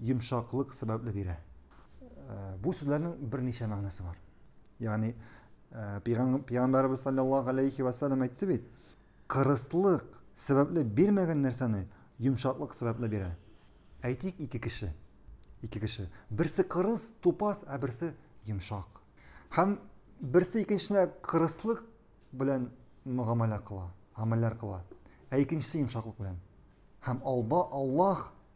йомшаклык сәбәпле бирә. Э, бу сүзләрнең берничә мәгънәсе бар. Ягъни э, пәйгамбәрбез саллаллаһу алейхи ва саллям әйтте бит, кырыслык сәбәпле бирмәгән нәрсәне йомшаклык сәбәпле бирә. Әйтик, ике кеше. Ике кеше. Берсе кырыс, тупас, ә берсе йомшак. Һәм берсе икенчесенә кырыслык белән мөгамәлә кыла, гамәлләр кыла. Ә икенчесе йомшаклык белән. Һәм Аллаһ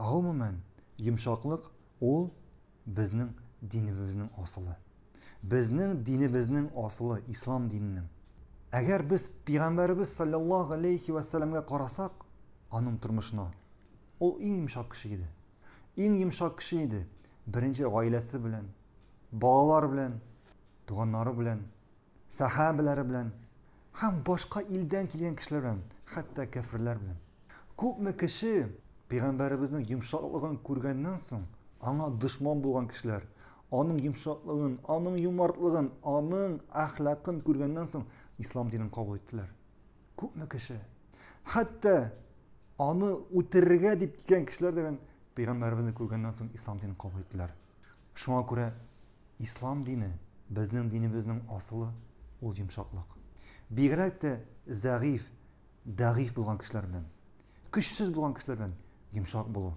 Гомумән, йомшаклык ул безнең динебезнең асылы. Безнең динебезнең асылы, ислам диненең. Әгәр без пигамбәребез салләллаһу галәйһи вә сәләмгә карасак, аның тормышына, ул иң йомшак кеше иде. Иң йомшак кеше иде. Беренче гаиләсе белән, балалар белән, туганнары белән сәхабәләре белән һәм башка илдән килгән кешеләр белән, хәтта кәферләр белән. Күпме кеше пәйгамбәребезнең йомшаклыгын күргәннән соң, аңа дошман булган кешеләр, аның йомшаклыгын, аның юмартлыгын, аның әхлакын күргәннән соң, ислам динен кабул иттеләр. Күпме кеше, хәтта аны үтерергә дип килгән кешеләр дигән пәйгамбәребезне күргәннән соң, ислам динен кабул иттеләр. Шуңа күрә Ислам дине, безнең динебезнең асылы, ул йомшаклык. Бигрәк тә зәгыйфь, дәгыйфь булган кешеләр белән, көчсез булган кешеләр белән йомшак булу.